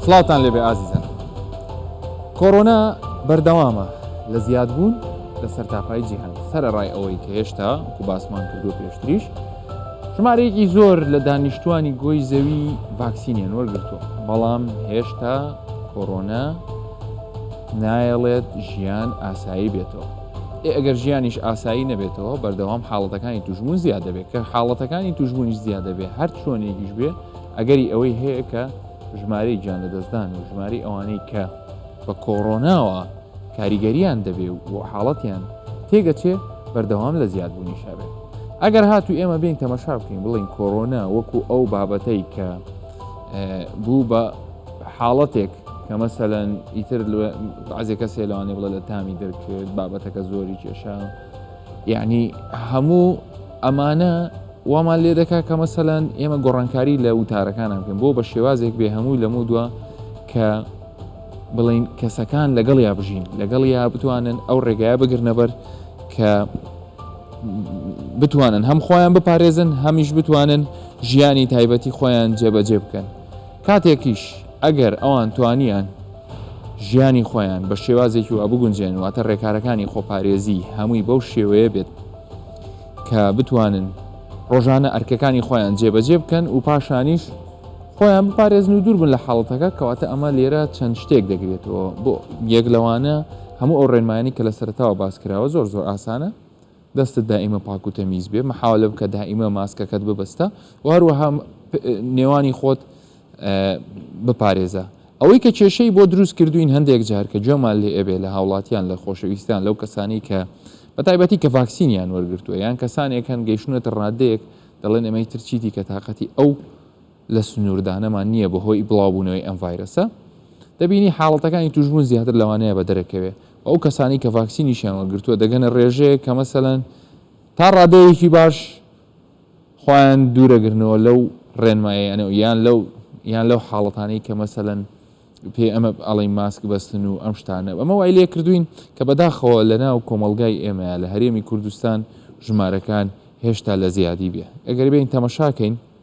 سڵاوتان لێبێ ئازیزان کۆرۆنا بەردەوامە لە زیاد بوون لە سەرتاپای جیهان سەرڕای ئەوەی کە هێشتا کو باسمان کردو پێشتریش ژمارەیەکی زۆر لە دانیشتووانی گۆی زەوی ڤاکسینیان وەرگرتووە، بەڵام هێشتا کۆرۆنا نایەڵێت ژیان ئاسایی بێتەوە. ئێ ئەگەر ژیانیش ئاسایی نەبێتەوە، بەردەوام حاڵەتەکانی توشبوون زیاد دەبێت، کە حاڵەتەکانی توشبوونیش زیاد دەبێت، هەر چۆنێکیش بێ ئەگەری ئەوەی هەیە کە ژمارەی گیانلەدەستدان و ژمارەی ئەوانەی کە بە کۆرۆناوە کاریگەریان دەبێ و بۆ حاڵەتیان تێگەچێ بەردەوام لە زیاد بوونیشا بێ. ئەگەر هاتوو ئێمە بێین تەمەشا بکەین بڵێین کۆرۆنا وەکوو ئەو بابەتەی کە بوو بە حاڵەتێک کە مەسەلەن ئیتر بەعزێ کەسێ لەوانێ بڵێ لە تامی دەرکرد بابەتەکە زۆری کێشا یعنی هەموو ئەمانە وامان لێ دەکا کە مەسەلەن ئێمە گۆڕانکاری لە وتارەکانم بکەن بۆ بە شێوازێک بێ هەمووی لەمو دووە کە بڵین کەسەکان لەگەڵیا بژین لەگەڵیا بتوانن ئەو ڕێگایە بگرنەبەر کە بتوانن هەم خۆیان بپارێزن هەمیش بتوانن ژیانی تایبەتی خۆیان جێبەجێ بکەن کاتێکیش ئەگەر ئەوان توانیان ژیانی خۆیان بە شێوازێکی وا بگونجێن واتە ڕێکارەکانی خۆپارێزی هەمووی بەو شێوەیە بێت کە بتوانن ڕۆژانە ئەرکەکانی خۆیان جێبەجێ بکەن و پاشانیش خۆیان بپارێزن و دوور بن لە حاڵەتەکە، کەواتە ئەمە لێرە چەند شتێک دەگرێتەوە بۆ یەک لەوانە هەموو ئەو ڕێنمایانەی کە لە سەرەتاوە باس کراوە زۆر زۆر ئاسانە دەستت دائیمە پاک و تەمیز بێ محاولە بکە دائیمە ماسکەکەت ببەستە و هەروەها نێوانی خۆت بپارێزە ئەوەی کە کێشەی بۆ دروست کردوین هەندێک جار کە گوێمان لێ ئەبێ لە هاوڵاتیان لە خۆشەویستان لەو کەسانی کە بە تایبەتی کە ڤاکسینیان وەرگتووە یان کەسانێک هەن گەیشتونەتە ڕادەیەک دەڵێن ئەمەی ترچیتی کە تااقەتی ئەو لە سنووردانەمان نییە بەهۆی بڵاوبوونەوەی ئەم ڤایرەسە، دەبینی حاڵەتەکانی تووشبوون زیاتر لەوانەیە بەدەرەکەوێ و ئەو کەسانەی کە ڤاکسینیشیان وەرگرتووە دەگەنە ڕێژەیەک کە مەسەلەن تا ڕادەیەکی باش خۆیان دوورەگرنەوە لەو ڕێنماییانە و یان لەو یان لەو حاڵەتانەی کە مەسەلەن پێ ئەمە ئەڵین ماسک بەستن و ئەم شتانە ئەمە وای لێ کردوین کە بەداخەوە لەناو کۆمەڵگای ئێمەیە لە هەرێمی کوردستان ژمارەکان هێشتا لە زیادی بێ ئەگەر بێین تەمەشاکەین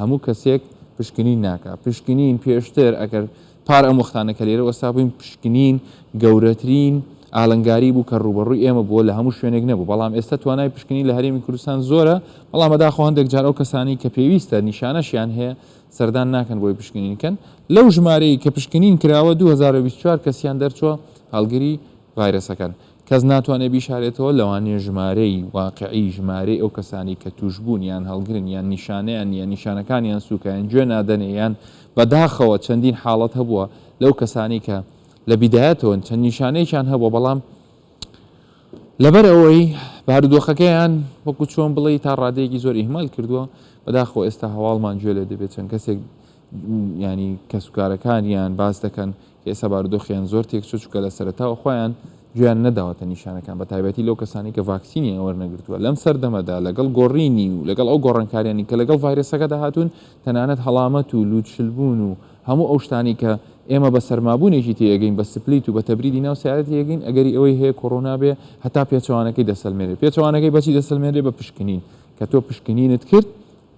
هەموو کەسێک پشکنین ناکات، پشکنین پێشتر ئەگەر پار ئەم وەختانە کە لێرە وەستا بووین پشکنین گەورەترین ئالنگاری بوو کە ڕووبەڕووی ئێمە بووە لە هەموو شوێنێک نەبوو بەڵام ئێستا توانای پشکنین لە هەرێمی کوردستان زۆرە بەڵام بەداخەوە هەندێک جار ئەو کەسانەی کە پێویستە نیشانەشیان هەیە سەردان ناکەن بۆی پشکنین بکەن لەو ژمارەی کە پشکنین کراوە دوو هەزار و بیست و چوار کەسیان دەرچووە هەڵگری ڤایرەسەکەن کەس ناتوانێت بیشارێتەوە، لەوانەیە ژمارەی واقعی ژمارەی ئەو کەسانەی کە تووشبوون یان هەڵگرن یان نیشانەیان نییە، نیشانەکانیان سووکە یان گوێ نادەنێ یان بەداخەوە چەندین حاڵەت هەبووە لەو کەسانەی کە لە بیدایەتەوە چەند نیشانەیەکیان هەبووە بەڵام لەبەر ئەوەی بارودۆخەکەیان وەکو چۆن بڵێ تا ڕادەیەکی زۆر ئیهمال کردووە بەداخۆ ئێستا هەواڵمان گوێ لێ دەبێت چەند کەسێک ینی کەسوکارەکانیان باس دەکەن ئێستا بارودۆخیان زۆر تێکچووە، چونکە لە سەرەتاوە خۆیان گوێیان نەداوەتە نیشانەکان، بەتایبەتی لەو کەسانەی کە ڤاکسینیان وەرنەگرتووە. لەم سەردەمەدا لەگەڵ گۆڕینی و لەگەڵ ئەو گۆڕانکاریانەی کە لەگەڵ ڤایرەسەکەدا هاتوون، تەنانەت هەڵامەت و لووتشلبوون و هەموو ئەو شتانەی کە ئێمە بە سەرمابوونێکی تێیەگەین، بە سپلیت و بە تەبریدی ناو سەیارە تێیەگەین، ئەگەری ئەوەی هەیە کۆرۆنا بێ هەتا پێچەوانەکەی دەسەلمێنێت. پێچەوانەکەی بە چی دەسەلمێنرێت؟ بە پشکنین. کە تۆ پشکنینت کرد،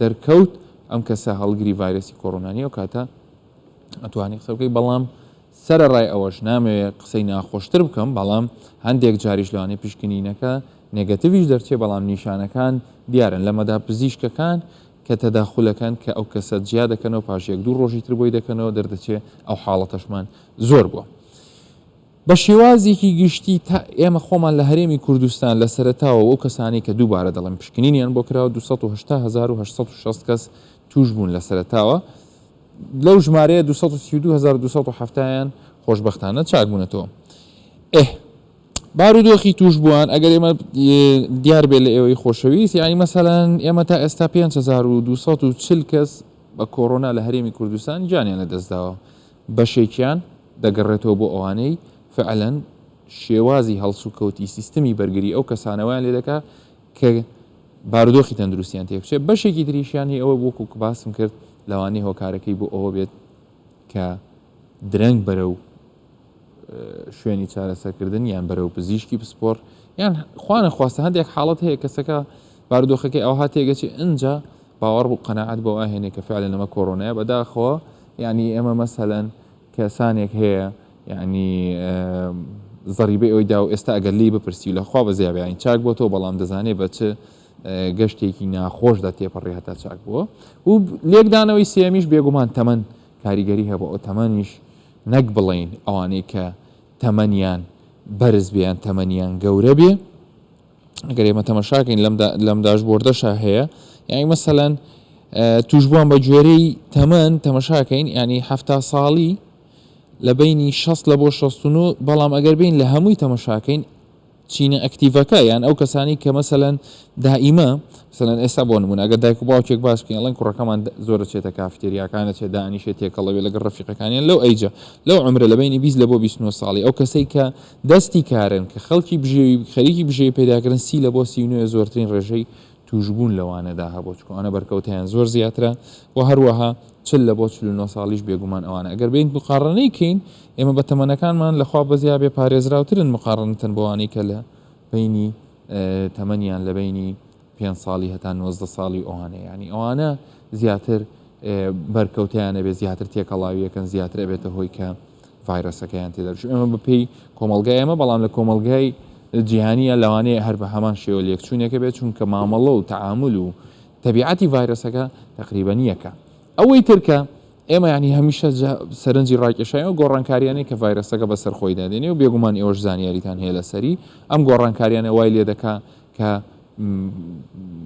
دەرکەوت ئەم کەسە هەڵگری ڤایرەسی کۆرۆنا نییە، ئەو کاتە ئەتوانی قسە بکەی بەڵام سەرەڕای ئەوەش نامەوێ قسەی ناخۆشتر بکەم بەڵام هەندێک جاریش لەوانەیە پشکنینەکە نێگەتیڤیش دەرچێ بەڵام نیشانەکان دیارن لەمەدا پزیشکەکان کە تەداخولەکەن کە ئەو کەسە جیا دەکەنەوە پاش یەک دوو ڕۆژی تر بۆی دەکەنەوە دەردەچێ ئەو حاڵەتەشمان زۆر بووە. بە شێوازێکی گشتی تا ئێمە خۆمان لە هەرێمی کوردستان لە سەرەتاوە و ئەو کەسانەی کە دووبارە دەڵێن پشکنینیان بۆ کراوە 280 هەزار و 860 کەس تووش بوون لە سەرەتاوە لەو ژمارەیە دوو سەد و سی و دوو هەزار و دوو سەد و حەفتا یان خۆشبەختانە چاکبوونەتەوە. ئه. بارودۆخی تووشبووان، ئەگەر ئێمە دیار بێت لە ئێوەی خۆشەویست، یانی مەسەلەن ئێمە تا ئێستا پێنج هەزار و دوو سەد و چل کەس بە کۆرۆنا لە هەرێمی کوردستان گیانیان لەدەستداوە، بەشێکیان دەگەڕێتەوە بۆ ئەوانەی فەعلەن شێوازی هەڵسوکەوتی سیستمی بەرگری ئەو کەسانەوەیان لێدەکات کە بارودۆخی تەندروستیان تێکچێت، بەشێکی تریشیان هی ئەوە وەکو کە باسم کرد لەوانەیە هۆکارەکەی بۆ ئەوە بێت کە درەنگ بەرەو شوێنی چارەسەرکردن یان بەرەو پزیشکی پسپۆڕ یان خوانە خواستە هەندێک حاڵەت هەیە کەسەکە باردۆخەکەی ئەو هاتێگەچی ئەجا باوەڕ بوو قەنەعات بۆ ئاهێنێک کە فعلە نەمە کۆرۆنای بەداخەوە ینی ئێمە مەسەەن کەسانێک هەیە یانی زەڕیبەی ئەوەی داو ئێستا ئەگەر لی بپرسی لە خوا بەزیابێ یانی چاک بۆ تۆ بەڵام دەزانێ بە چ گەشتێکی ناخۆشدا تێپەڕی هەتا چاک بووە و لێکدانەوەی سێمیش بێگومان تەمەن کاریگەری هەبوو ئەو تەمەنیش نەک بڵین ئەوانەی کە تەمەنیان بەرز بێیان تەمەنیان گەورە بێ ئەگەر ئێمە تەمەشاکەین لەم داشبۆردەشا هەیە یانی مەسەەن توشبووان بە گوێرەی تەمەەن تەمەشاکەین ینی ه ساڵی لە بینی 16 لە بۆ 16 بەڵام ئەگەر بین لە هەمووی تەمەشاکەین چینە ئەکتیڤەکە یان ئەو کەسانی کە مەسەەن دائیمە سەەن ئێستا بۆ نمونە ئەگە دایک و باوکێک باس بکەین ئەڵەن کوڕەکەمان زۆر چێتە کافتێریاکانە چێ دانیشێت تێکەڵەوێ لەگە ڕفیقەکانیان لەو ئەیجە لەو عمرە لە بینی بیست لە بۆ 29 ساڵی ئەو کەسەی کە دەستی کارن کە خەڵکی بژێوی خەریکی بژێوی پەیداکردن سی لە بۆ سی و نۆیە زۆرترین ڕێژەی تووشبوون لەوانەدا هەبووە چونکە ئەوانە بەرکەوتەیان زۆر زیاترە و هەروەها چل لە بۆ چل و نۆ ساڵیش بێگومان ئەوانە ئەگەر بێین مقاڕنەی کەین ئێمە بە تەمەنەکانمان لە خوا بەزیا بێ پارێزراوترن مقاڕنتەن بەوانەی کە لە بەینی تەمەنیان لە بەینی پێنج ساڵی هەتا نۆزدە ساڵی ئەوانە یانی ئەوانە زیاتر بەرکەوتیان ئەبێ زیاتر تێکەڵاویەکەن زیاتر ئەبێتە هۆی کە ڤایرۆسەکەیان تێدەش ئەمە بەپی کۆمەلگای ئەمە بەڵام لە کۆمەلگای جیهانیە لەوانەیە هەر بە هەمان شێوە لێکچوونێکە بێت چونکە مامەڵە و تعامل و تەبیعەتی ڤایرۆسەکە تقریبا یەکە ئەوەی ترکە ئێمە ینی هەمیشە سەرنجی ڕاکێشای و گۆڕانکاریانەی کە ڤایرۆسەکە بەسەر خۆی دادێنێ و بێگومان ئێوەش زانیاریتان هەیە لەسەری ئەم گۆڕانکاریانە وای لێ دەکا کە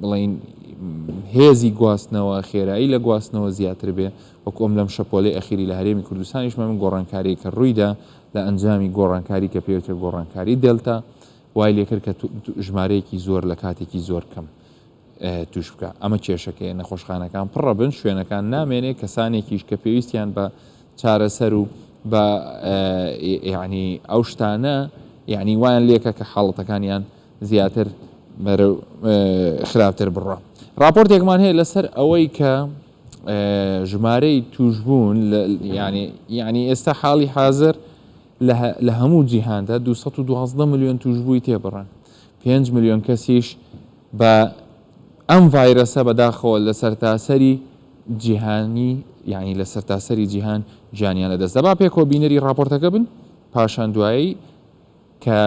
بڵێین هێزی گواستنەوە، خێرایی لە گواستنەوە زیاتر بێ، وەکو ئەم لەم شەپۆلەی ئەخیری لە هەرێمی کوردستانیش مەبن گۆڕانکاریەک کە روویدا لە ئەنجامی گۆڕانکاری کە پێوترێ گۆڕانکاری دێلتا وای لێکرد کە ژمارەیەکی زۆر لە کاتێکی زۆر کەم توش بکە ئەمە کێشەکەی نەخۆشخانەکان پڕە بن شوێنەکان نامێنێ کەسانێکیش کە پێویستیان بە چارەسەر و بە یعنی ئەو شتانە یعنی وایان لێکە کە حاڵەتەکانیان زیاتر بەرەو خراپتر بڕوا. ڕاپۆرتێکمان هەیە لەسەر ئەوەی کە ژمارەی تووشبوون یانی ئێستا حاڵی حازر لە هەموو جیهاندا 212 ملیۆن تووشبووی تێبڕن، پێنج ملیۆن کەسیش بە ئەم ڤایرەسە بەداخەوە لە سەرتاسەری جیهانی یانی لە سەرتاسەری جیهان گیانیان لەدەستدا. با پێکەوە بینەری ڕاپۆرتەکە بن پاشان دوایی کە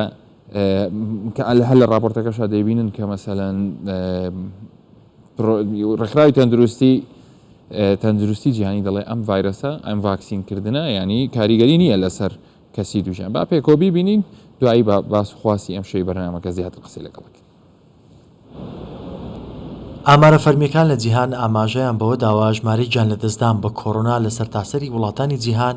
کە ئەل هەر لە ڕاپۆرتەکەشا دەیبینن کە مەسەلەن ڕێکخراوی تەندروستی تەندروستی جیهانی دەڵێ ئەم ڤایرەسە ئەم ڤاکسین کردنە ینی کاریگەری نییە لەسەر کەسی دوژیان با پێکۆبی بینین دوایی بە باس خواسی ئەم شەی بەرنمەکە زیاتر قسەی لەگەڵک ئامارە فەرمییەکان لە جیهان ئاماژەیان بەوە داوە، ژمارەی گیانلەدەستدان بە کۆرۆنا لە سەرتاسەری وڵاتانی جیهان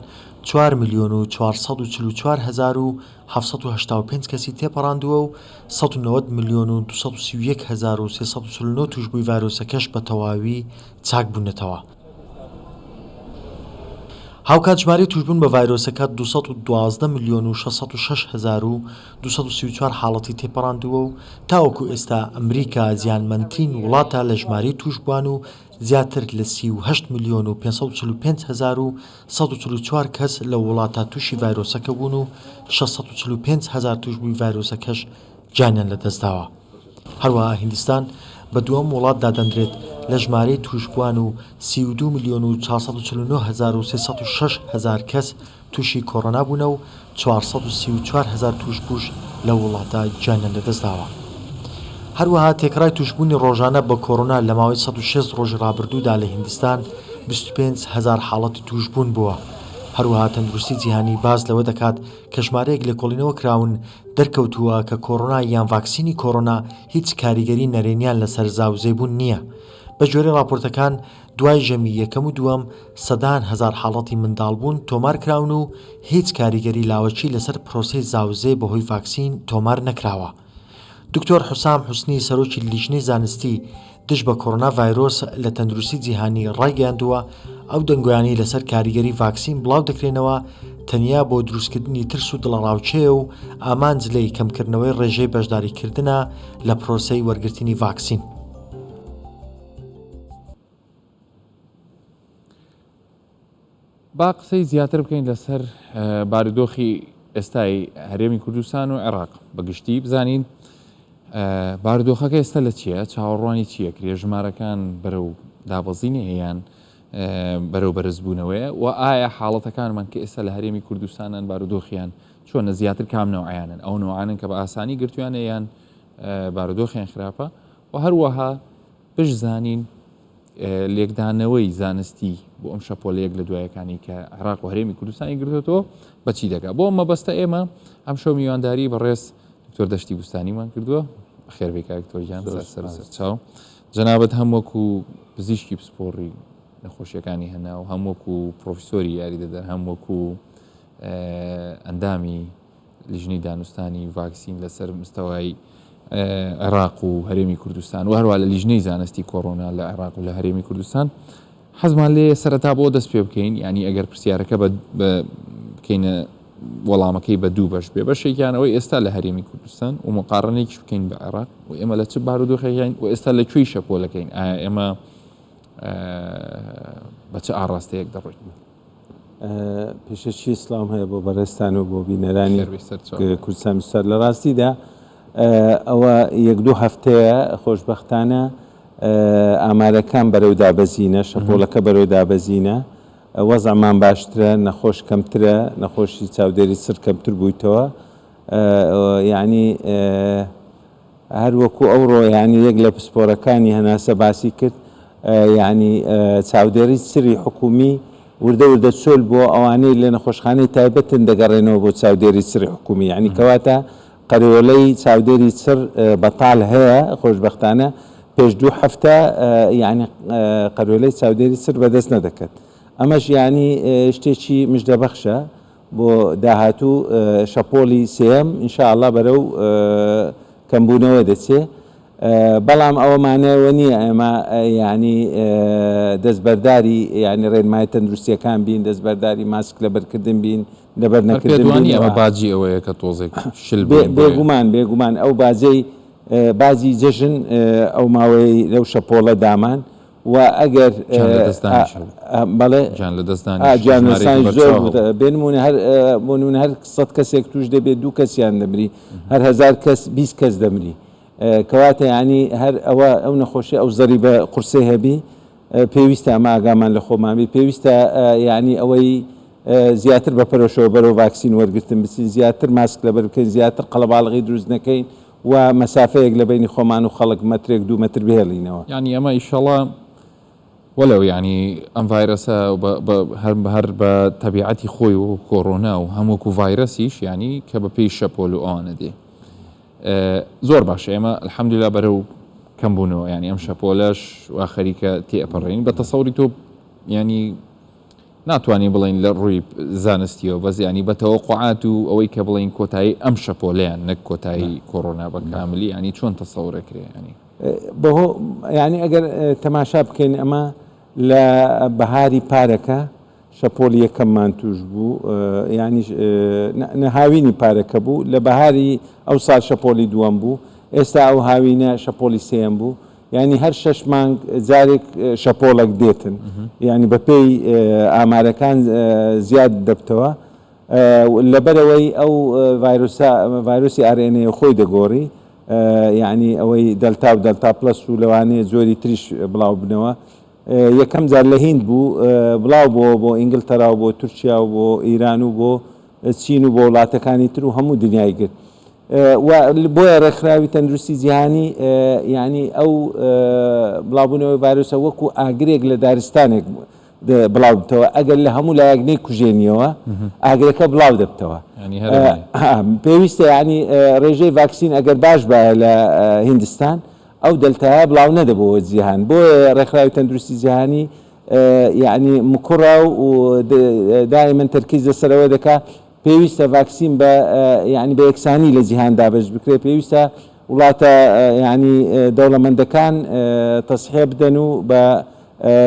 چوار ملیۆن و چوار سەد و چل و چوار هەزار و حەڤت سەد و هەشتا و پێنج کەسی تێپەڕاندووە و سەد و نەوەد ملیۆن و دوو سەد و سی و یەک هەزار و سێ سەد و چل و نۆ تووشبووی ڤایرۆسەکەش بەتەواوی چاکبوونەتەوە. هاوکات ژمارەی تووشبوون بە ڤایرۆسەکە دوو سەد و دوازدە ملیۆن و شەش سەد و شەش هەزار و دوو سەد و سی و چوار حاڵەتی تێپەڕاندووە و تاوەکو ئێستا ئەمریکا زیانمەندترین وڵاتە لە ژمارەی تووشبووان و زیاتر لە سی و هەشت ملیۆن و پێنج سەد و چل و پێنج هەزار و سەد و چل و چوار کەس لەو وڵاتە تووشی ڤایرۆسەکە بوون و شەش سەد و چل و پێنج هەزار تووشبووی ڤایرۆسەکەش گیانیان لەدەستداوە. هەروەها هیندستان بە دووەم وڵات دادەندرێت لە ژمارەی تووشبووان و سی و دوو ملیۆن و چوار سەد و چل و نۆ هەزار و سێ سەد و شەش هەزار کەس تووشی کۆرۆنا بوونە و چوار سەد و سی و چوار هەزار تووشبووش لەو وڵاتە گیانیان لەدەستداوە. هەروەها تێکڕای تووشبوونی ڕۆژانە بە کۆرۆنا لە ماوەی سەد و شەست ڕۆژی ڕابردوودا لە هیندستان بیست و پێنج هەزار حاڵەتی تووشبوون بووە. هەروەها تەندروستی جیهانی باس لەوە دەکات کە ژمارەیەک لێکۆڵینەوە کراون دەرکەوتووە کە کۆرۆنا یان ڤاکسینی کۆرۆنا هیچ کاریگەری نەرێنیان لەسەر زاوزێبوون نییە. بەگوێرەی ڕاپۆرتەکان، دوای ژەمی یەکەم و دووەم، سەدان هەزار حاڵەتی منداڵبوون تۆمار کراون و هیچ کاریگەری لاوەکی لەسەر پرۆسەی زاوزێ بەهۆی ڤاکسین تۆمار نەکراوە. دکتۆر حوسام حوسنی سەرۆکی لیژنەی زانستی دژ بە کۆرۆنا ڤایرۆس لە تەندروستی جیهانی ڕایگەیاندووە، ئەو دەنگۆیانەی لەسەر کاریگەری ڤاکسین بڵاو دەکرێنەوە تەنیا بۆ دروستکردنی ترس و دڵەڕاوکێیە و ئامانج لێی کەمکردنەوەی ڕێژەی بەشداریکردنە لە پرۆسەی وەرگرتنی ڤاکسین. با قسەی زیاتر بکەین لەسەر بارودۆخی ئێستای هەرێمی کوردستان و عێراق بە گشتی بزانین بارودۆخەکە ئێستا لە چییە چاوەڕوانی چییە کرێ ژمارەکان بەرەو دابەزینی هەیەیان بەرەو بەرزبوونەوەیە و ئایا حاڵەتەکانمان کە ئێستا لە هەرێمی کوردستانان بارودۆخیان چۆنە زیاتر کام نەوەیانن ئەو نوعاانن کە بە ئاسانی گرتویانە یان بارودۆخیان خراپە و هەروەها بشزانین لێکدانەوەی زانستی بۆ ئەم شەپۆلە یەک لە دوایەکانی کە عێراق و هەرێمی کوردستانی گرتوێتەوە بەچی دەگا بۆ مەبەستە ئێمە ئەم شەو میوانداری بەڕێز دکتۆر دەشتی بستانیمان کردووە خێربی کاکتۆرجان سەر چاو جەنابەت هەم وەکو پزیشکی پسپۆڕی نەخۆشیەکانی هەنا و هەم وەکو پرۆفیسۆری یاریدەدەر هەم وەکو ئەندامی لیژنەی دانوستانی ڤاکسین لەسەر مستەوای عێراق و هەرێمی کوردستان و هەروە لە لیژنەی زانستی کۆرۆنا لە عێراق و لە هەرێمی کوردستان حەزمان لێ سەرەتا بۆ دەست پێ بکەین ینی ئەگەر پرسیارەکە بکەینە وەڵامەکەی بە دوو بەش بێ بەشێکیان ئەوەی ئێستا لە هەرێمی کوردستان و مقارنێکیش بکەین بە عێراق و ئێمە لە چ بارودۆخێکین و ئێستا لە کوێی شەپۆلەکەین ئایا ئێمە بە چ ئاڕاستەیەک دەڕۆین پێشەکی سڵاوم هەیە بۆ بەڕێزتان و بۆ بینەرانی خێربێ سەر چاو بێ. کوردستان نووسات لە ڕاستیدا ئە، ئەوە یەک دوو هەفتەیە خۆشبەختانە ئە، ئامارەکان بەرەو دابەزینە، شەپۆڵەکە بەرەو دابەزینە، وەزعمان باشترە، نەخۆش کەمترە، نەخۆشی چاودێری سڕ کەمتر بوویتەوە، ئە، یانی ئە، هەر وەکو ئەوڕۆ یانی یەک لە پسپۆرەکانی هەناسە باسی کرد یانی چاودێری سری حکومی وردە وردە چۆل بووە ئەوانەی لە نەخۆشخانەی تایبەتن دەگەڕێنەوە بۆ چاودێری سری حکومی یانی کەواتە قەرەوەلەی چاودێری چڕ بەتال هەیە خۆشببختانە پێش دوو هەفتە یعنی قەرۆلەی چاودێری سر بەدەست نەدەکرد ئەمەش یعنی شتێکی مژدەبەخشە بۆ داهاتوو شەپۆڵی سێیەم ان شاء اللە بەرەو کەمبوونەوە دەچێ بەڵام ئەوە مانای ئەوە نییە ئێمە یانی دەستبەرداری یانی ڕێنمای تەندروستیەکان بین دەستبەرداری ماسک لەبەرکردن بین لەبەر نەکردوانی ئەمە باجی ئەوەیە کە تۆزێک شل بێگومان بێگومان ئەو باجەی بازی جەژن ئەو ماوەی لەو شەپۆڵە دامان وە ئەگەر جانسانی زۆر بێنمونە هەر بۆنون هەر سەد کەسێک توش دەبێت دوو کەسیان دەمری هەر هزار کەس 20 کەس دەمری کەواتە ینی هەر ئەوە ئەو نەخۆشی ئەو زەری بە قورسێ هەبی پێویستە ئەمە ئاگامان لە خۆمانبی پێویستە ینی ئەوەی زیاتر بە پەرۆشەوە بەرەو ڤاکسین وەرگتن بچین زیاتر ماسک لەبەر بکەین زیاتر قەڵەباڵغی دروست نەکەین و مەسافەیەک لە بەینی خۆمان و خەڵک مەترێک دوو مەتر بهێڵینەوە. یانی ئەمە ئیشەڵا وەلەو یانی ئەم ڤایرەسە هەر بە تەبیعەتی خۆی وەکو کۆرۆنا و هەم وەکو ڤایرەسیش یانی کە بە پێی شەپۆل و ئەوانە دێ زۆر باشە ئێمە الحمدللە بەرەو کەم بوونەوە یانی ئەم شەپۆلەش وا خەریکە تێ ئەپەڕێین بە تەسەوری تۆ یانی ناتوانین بڵێین لە ڕووی زانستییەوە بەس یانی بە تەوەقوعات و ئەوەی کە بڵێین کۆتایی ئەم شەپۆلەیان نەک کۆتایی کۆڕۆنا بە کاملی یانی چۆن تەسەوڕێ کرێ یانی. بەهۆ یانی ئەگەر تەماشا بکەین ئەمە لە بەهاری پارەکە شەپۆلی یەکەممان تووش بوو یانی نە هاوینی پارەکە بوو لە بەهاری ئەوسا شەپۆلی دووەم بوو ئێستا ئەو هاوینە شەپۆلی سێیەم بوو یانی هەر شەش مانگ جارێک شەپۆڵەک دێتن یانی بەپێی ئامارەکان زیاد دەبتەوە لەبەرەوەی ئەو ڤایرۆسە ڤایرۆسی ئارێنەیە خۆی دەگۆڕی یعنی ئەوەی دەلتا و دەلتا پلس و لەوانەیە جۆری تریش بڵاو بنەوە یەکەم جار لە هیند بوو بڵاو بۆ بۆ ئینگلتەرا و بۆ تورکیا و بۆ ئیران و بۆ چین و بۆ وڵاتەکانی تر و هەموو دنیای گرت و بۆیە ڕێکخراوی تەندروستی جیهانی یعنی ئەو بڵاوبوونەوەی ڤایرۆسە وەکو ئاگرێک لە دارستانێک بڵاو بتەوە ئەگەر لە هەموو لایەک نەی کوژێنیەوە ئاگرەکە بڵاو دەبتەوە پێویستە یعنی ڕێژەی ڤاکسین ئەگەر باش بە لە هندستان ئەو دەلتایە بڵاو نەدەبەوە جیهان بۆ ڕێکخراوی تەندروستی جیهانی یعنی مکوڕە و دای من تەرکیز لەسەرەوە دەکات پێویستە ڤاکسین بە یانی بە یەکسانی لە جیهان دابەش بکرێت، پێویستە وڵاتە یانی دەوڵەمەندەکان تەسحیە بدەن و بە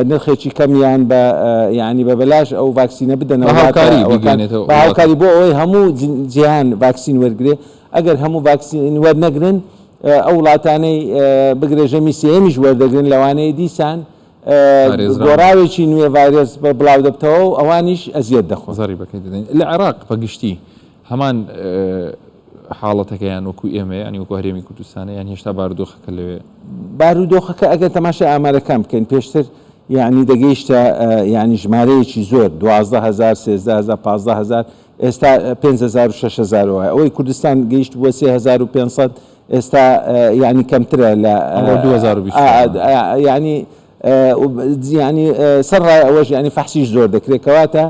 نرخێکی کەم یان بە یانی بە بەلاش ئەو ڤاکسینە بدەنەوە هاوکاری بکەن بە هاوکاری بۆ ئەوەی هەموو جیهان ڤاکسین وەرگێ ئەگەر هەموو ڤاکسین وەرنەگرن ئەو وڵاتانەی بگرە ژەمی سێیەمیش وەردەگرن لەوانەیە دیسان دۆڕاوێکی نوێ ڤایرۆس بڵاودەبتەوە و ئەوانیش ئەزیەت دەخۆن. زەڕی بەکەی دەدەین لە عێراق بە گشتی هەمان حاڵەتەکە یان وەکو ئێمە یانی وەکو هەرێمی کوردستانە یان هێشتا بارودۆخەکە لەوێ؟ بارودۆخەکە ئەگەر تەماشای ئامارەکان بکەین پێشتر یانی دەگەیشتە یانی ژمارەیەکی زۆر دوازدە هەزار سێزدە هەزار پازدە هەزار ئێستا پێنج هەزار و شەش هەزار وایە ئەوەی کوردستان گەیشت بووە سێ هەزار و پێنج سەد ئێستا یانی کەمترە لە ئەمڕۆ 2024 یانی یانی سەر ڕای ئەوەش یانی فەحسیش زۆر دەکرێت کەواتە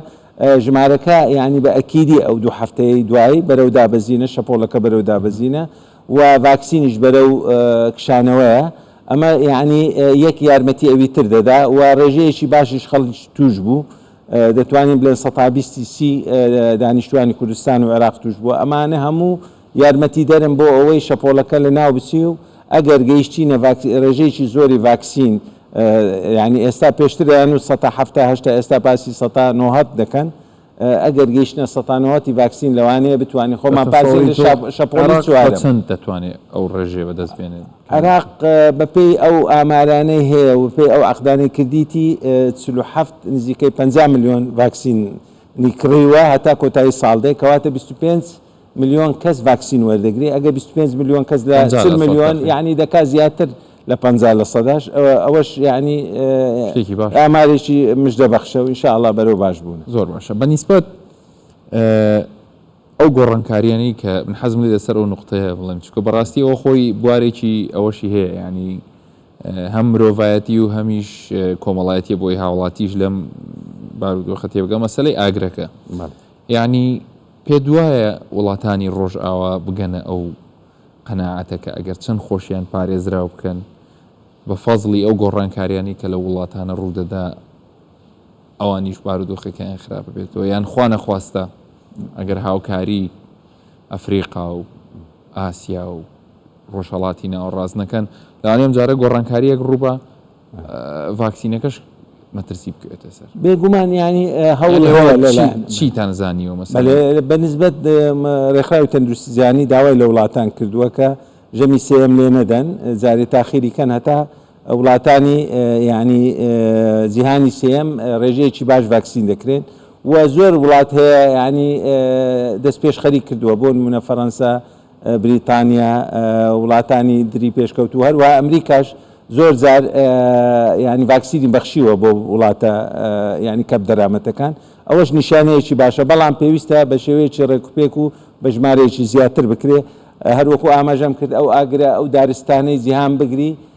ژمارەکە یانی بە ئەکیدی ئەو دوو هەفتەیە دوایی بەرەو دابەزینە شەپۆڵەکە بەرەو دابەزینە و ڤاکسینیش بەرەو کشانەوەیە ئەمە یانی یەک یارمەتی ئەوی تر دەدا و ڕێژەیەکی باشیش خەڵک توش بوو دەتوانین بلێن سەتا بیستی سی دانیشتوانی کوردستان و عێراق توش بووە ئەمانە هەموو یارمەتیدەرن بۆ ئەوەی شەپۆڵەکە لە ناو بچی و ئەگەر گەیشتینە ڤاکسین ڕێژەیەکی زۆری ڤاکسین یانی ئێستا پێشتر دەیانوت سەتا حەفتا هەشتا ئێستا باسی سەتا نۆهەت دەکەن ئەگەر گەیشتنە سەتا نۆهەتی ڤاکسین لەوانەیە بتوانین خۆمان پارێزین لە شەپ- شەپۆلی عێراق چوارەم. بە چەند دەتوانێت ئەو ڕێژەیە بەدەست بێنێت؟ عێراق بەپێی ئەو ئامارانەی هەیە و بەپێی ئەو عەقدانەی کردیتی ئە، چل و حەفت نزیکەی پەنجا ملیۆن ڤاکسینی کڕیوە هەتا کۆتایی ساڵ دێ کەواتە بیست و پێنج ملیۆن کەس ڤاکسین وەردەگرێ ئەگەر بیست و پێنج ملیۆن کەس لە پەنجا چل لە سەد ملیۆن دەخەین یانی دەکا زیاتر لە پەنجا لە سەداش ئەوە ئەوەش یانی شتێکی باش ئامارێکی مژدە بەخشە و ان شاء اللە بەرەو باش بوونە. زۆر باشە بە نیسبەت ئەو گۆڕانکاریانەی کە من حەزم لێ لەسەر ئەو نوقتەیە بڵێم چونکە بەڕاستی ئەوە خۆی بوارێکی ئەوەشی هەیە یانی هەم مرۆڤایەتی و هەمیش کۆمەڵایەتیە بۆی هاوڵاتیش لەم بارودۆخە تێبگە مەسەلەی ئاگرەکە بەڵێ یانی پێت وایە وڵاتانی ڕۆژئاوا بگەنە ئەو قەناعەتە کە ئەگەر چەند خۆشیان پارێزراو بکەن بە فەزڵی ئەو گۆڕانکاریانەی کە لەو وڵاتانە ڕوودەدا ئەوانیش بارودۆخەکەیان خراپ بێتەوە یان خوا نەخواستە ئەگەر هاوکاری ئەفریقا و ئاسیا و ڕۆژهەڵاتی ناوەڕاست نەکەن لەوانەیە ئەمجارە گۆڕانکارییەک ڕووبا ڤاکسینەکەش مەترسی بکەوێتە سەر. بێ گومان یانی هەوڵ چیتان زانیوە مەسەن بە نسبەت ڕێکخراوی تەندروستی جیهانی داوای لە وڵاتان کردووە کە ژەمی سێم لێ نەدەن جارێ تاخیری کەن هەتا وڵاتانی یعنی جیهانی سێم ڕێژەیەکی باش ڤاکسین دەکرێن و زۆر وڵات هەیە ینی دەست پێش خەری کردووە بۆ منە فەەنسا بریتانیا، وڵاتانی دری پێشکەوتوو و هەروەها ئەمریکاش زۆر جار یانی ڤاکسینی بەخشیوە بۆ وڵاتە یانی کەم دەرامەتەکان، ئەوەش نیشانەیەکی باشە، بەڵام پێویستە بە شێوەیەکی ڕێکوپێک و بە ژمارەیەکی زیاتر بکرێت، هەروەکو ئاماژەم کرد ئەو ئاگرە ئەو دارستانەی جیهان بگری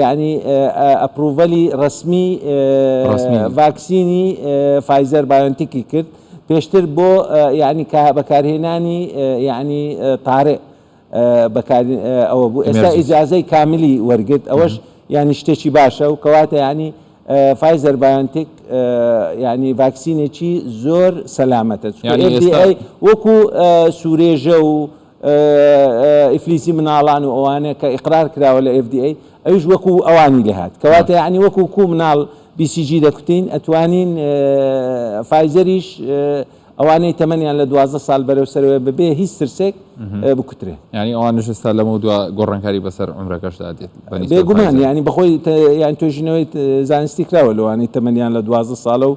یەعنی ئەپڕوڤەلی ڕەسمی ڤاکسینی فایزەر بایۆنتیکی کرد پێشتر بۆ یەعنی بەکارهێنانی یەعنی تارئ بەکار ئەوە بوو ئێستا ئیجازەی کاملی وەرگرت ئەوەش یەعنی شتێکی باشە و کەواتە یەعنی فایزەر بایۆنتیک یەعنی ڤاکسینێکی زۆر سەلامەتە وەکو سورێژە و ئیفلیسی مناڵان و ئەوانە کە ئیقرار کراوە لە FDA ئەویش وەکو ئەوانی لێ هات کەواتە یعنی وەکو کو مناڵ BCG دەکوتین ئەتوانین فایزەریش ئەوانەی تەمەنیان لە دوازدە ساڵ بەرەو سەرەوەی ببێ هیچ ترسێک بکوترێ یعنی ئەوانش ستا لەمە دو گۆڕانکاری بەسەر عمرەکەشدا دێت بێگومان یعنی بەخۆی یان توێژینەوەی زانستی کراوە لەوانەی تەمەنیان لە دوازدە ساڵە و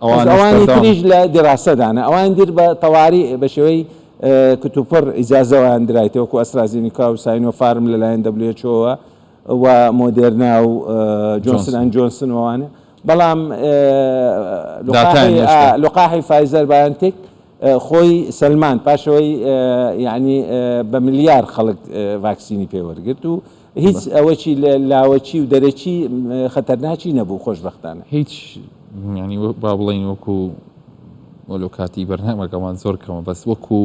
ئەوانی تریش لە دیراسەدانە، ئەوانی در بە تەواری بە شێوەی کتوپڕ ئیجازەوەیان درایتەوە وەکو ئەسترازینیکا و ساینۆ فارم لەلایەن دەبلیوێچۆوە و مۆدێرنا و جۆنسن ئەند جۆنسن وانە بەڵام لقاحی فایزەر بایەنتێک خۆی سەلمان پاشەوەی یعنی بە ملیار خەڵک ڤاکسینی پێوەرگرت و هیچ ئەوەکی لاوەکی و دەرەکی خەتەرناکی نەبوو خۆشبەختانە. هیچ یانی با بڵێین وەکو وەلۆ کاتی بەرنامەکەمان زۆر کەمە بەس وەکو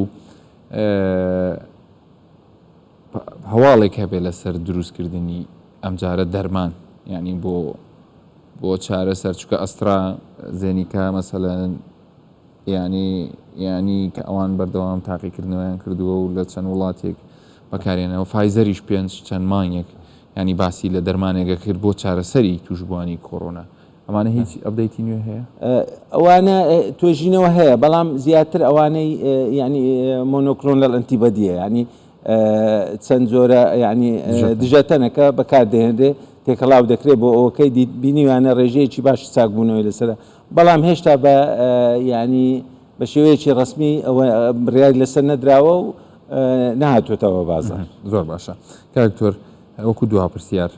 هەواڵێک هەبێ لەسەر دروستکردنی ئەمجارە دەرمان یعنی بۆ بۆ چارە سەرچکە ئەسترا زێنیکە مەسەلەن یانی یانی کە ئەوان بەردەوام تاقیکردنەوەیان کردووە و لە چەند وڵاتێک بەکارهێناوە، فایزەریش پێنج چەند مانگێک یانی باسی لە دەرمانێک ئەکرد بۆ چارەسەری تووشبووانی کۆرۆنا. ئەمانە هیچ ئەپدەیتی نوێ هەیە؟ ئەوانە توێژینەوە هەیە بەڵام زیاتر ئەوانەی یانی مۆنۆکلۆنەل ئەنتیبەدیە یانی چەند جۆرە یانی دژەتەنەکە بەکاردەهێنرێ تێکەڵاو دەکرێت بۆ ئەوەکەی بینیویانە ڕێژەیەکی باشی چاکبوونەوەی لەسەر بەڵام هێشتا بە یانی بە شێوەیەکی ڕسمی ئەوە بڕیاری لەسەر نەدراوە و نهاتوێتەوە بازار زۆر باشە کاکتۆر وەکو دوها پرسیار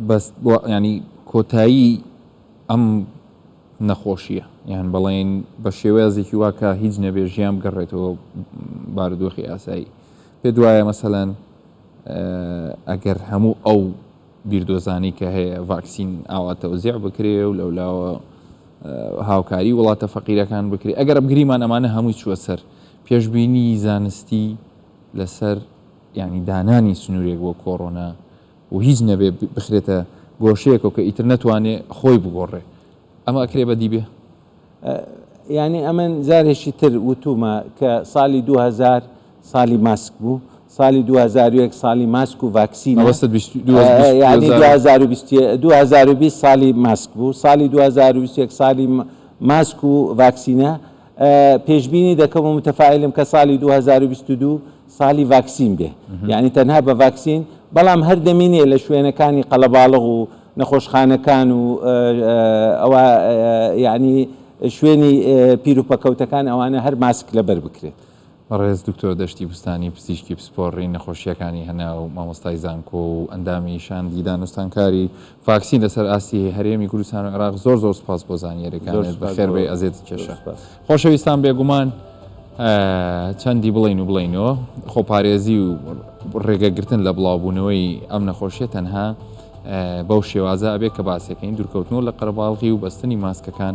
بەس ینی کۆتایی ئەم نەخۆشیە یان بەڵێن بە شێوەیەزێکی واکە هیچ نەبێ ژیان بگەڕێتەوە بارودۆخی ئاسایی پێ دوایە مەسەەن ئەگەر هەموو ئەو بیردۆزانی کە هەیە ڤاکسین ئاوا تەوزیع بکرێ و لەولاوە هاوکاری وڵاتە فەقیرەکان بکرێ ئەگەر بگریمان ئەمانە هەمووی چووە سەر پێشبینی زانستی لەسەر یعنی دانانی سنوورێک بۆ کۆڕۆنا و هیچ نەبێ بخرێتە گۆشەیەکەوە کە ئیتر نەتوانێ خۆی بگۆڕێ ئەمە ئەکرێ بەدی بێ؟ یانی ئەمن جارێکی تر وتوومە کە سالی دوو هەزار سالی ماسک بوو، سالی دوو هەزار و یەک سالی ماسک و ڤاکسینە، ئەوەستت بیست دوو هەزار و بیست یانی دوو هەزار و بیست یە دوو هەزار و بیست سالی ماسک بوو، سالی دوو هەزار و بیست و یەک سالی ماسک و ڤاکسینە، پێشبینی دەکەم و متەفائیلم کە ساڵی 2022 ساڵی ڤاکسین بێ یعنی تەنها بە ڤاکسین بەڵام هەر دەمینێ لە شوێنەکانی قەلەباڵغ و نەخۆشخانەکان و ئەوە یعنی شوێنی پیرروپەکەوتەکان ئەوانە هەر ماسک لەبەر بکرێت. بەڕێز دکتۆر دەشتی بوستانی پزیشکی پسپۆڕی نەخۆشییەکانی هەناو، مامۆستای زانکۆ و ئەندامی شاندی دانوستانکاری ڤاکسین لەسەر ئاستی هەرێمی کوردستان و عێراق زۆر زۆر سوپاس بۆ زانیاریەکانت بەخێربێی ئەزێت کێشە خۆشەویستان بێگومان چەندی بڵین و بڵینەوە خۆپارێزی و ڕێگەگرتن لە بڵاوبوونەوەی ئەم نەخۆشیە تەنها بەو شێوازە ئەبێ کە باسەکەین دوورکەوتنەوە لە قەرەباڵغی و بەستنی ماسکەکان